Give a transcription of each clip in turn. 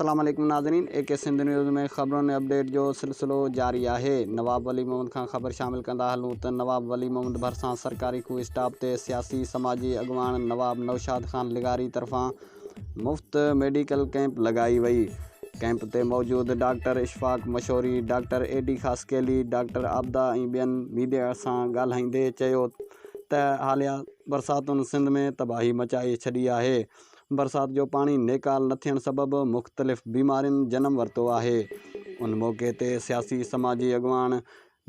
السلام عليڪم ناظرين اي ڪي سنڌ نيوز ۾ خبرن ۽ اپڊيٽ جو سلسلو جاري آهي نواب ولي محمد کان خبر شامل ڪندا هلون ته نواب ولي محمد ڀرسان سرڪاري خوهه اسٽاپ تي سياسي سماجي اڳواڻ نواب نوشاد خان لغاري طرفان مفت ميڊيڪل ڪئمپ لڳائي وئي، ڪئمپ تي موجود doctor Ashfaq Mashori, doctor A D Khaskheli, doctor Abida ۽ ٻين ميڊيا سان ڳالهائيندي چيو ته حاليه برساتن سنڌ ۾ تباهي مچائي ڇڏي آهي، برسات جو پاڻي نيڪال نه ٿيڻ سبب مختلف بيمارين جنم ورتو آهي، ان موقعي تي سياسي سماجي اڳواڻ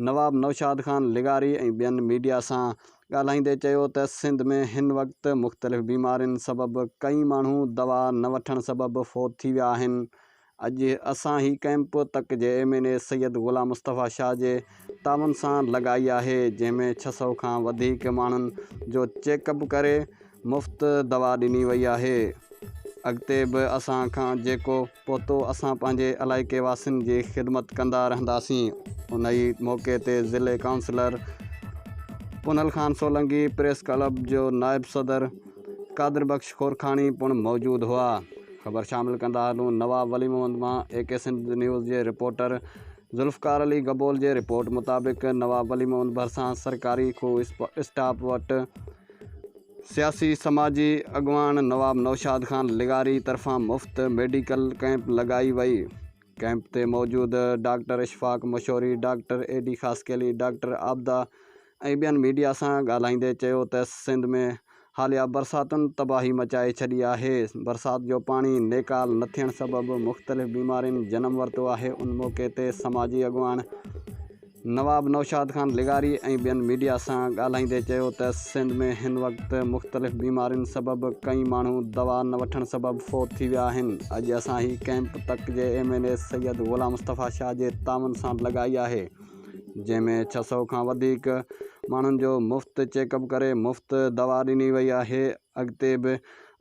نواب نوشاد خان لغاري ۽ ٻين ميڊيا سان ڳالهائيندي چيو ته سنڌ ۾ هن وقت مختلف بيمارين سبب ڪئين ماڻهو دوا نه وٺڻ سبب فوت ٿي ويا آهن، اڄ اسان هي ڪئمپ تڪ جي M N A Syed Ghulam Mustafa Shah جي تعاون سان لڳائي آهي جنهن ۾ ڇهه سؤ کان وڌيڪ ماڻهن جو چيڪ اپ ڪري مفت دوا ڏني وئي آهي اڳتي به اسان کان جيڪو پهتو اسان پنهنجي علائقي واسين جي خدمت ڪندا رهنداسين ان ئي موقعي تي ضلعي councillor Punhal Khan Solangi press club جو نائب صدر قادر بخش خورکاڻي پڻ موجود هئا خبر شامل ڪندا هلون نواب ولي محمد مان اي ڪي سنڌ نيوز جي رپورٽر ذوالفقار علي گبول جي رپورٽ مطابق نواب ولي محمد ڀرسان سرڪاري خوه اسٽاپ وٽ سياسي سماجي اڳواڻ نواب نوشاد خان لغاري طرفان مفت ميڊيڪل ڪئمپ لڳائي وئي ڪئمپ تي موجود doctor Ashfaq Mashori doctor A D Khaskheli doctor Abida ۽ ٻين ميڊيا سان ڳالهائيندي چيو ته سنڌ ۾ حاليا برساتن تباهي مچائي ڇڏي آهي برسات جو پاڻي نيڪال نه ٿيڻ سبب مختلف بيمارين جنم ورتو آهي ان موقعي تي سماجي اڳواڻ نواب نوشاد خان لغاري ۽ ٻين ميڊيا سان ڳالهائيندي چيو ته سنڌ ۾ هن وقت مختلف بيمارين سبب ڪئين ماڻهو دوا نه وٺڻ سبب فوت ٿي ويا آهن، اڄ اسان هي ڪئمپ تڪ جي M N A Syed Ghulam Mustafa Shah جي تعاون سان لڳائي آهي جنهن ۾ ڇهه سؤ کان وڌيڪ ماڻهن جو مفت چيڪ اپ ڪري مفت دوا ڏني وئي آهي. اڳتي به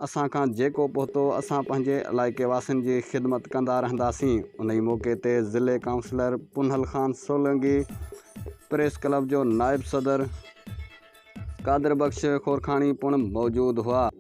اسان کان جيڪو پهتو اسان پنهنجي علائقي واسين جي خدمت ڪندا رهنداسين انهي موقعي تي ضلعي councillor Punhal Khan Solangi press club جو نائب صدر قادر بخش خورکاڻي پڻ موجود هئا.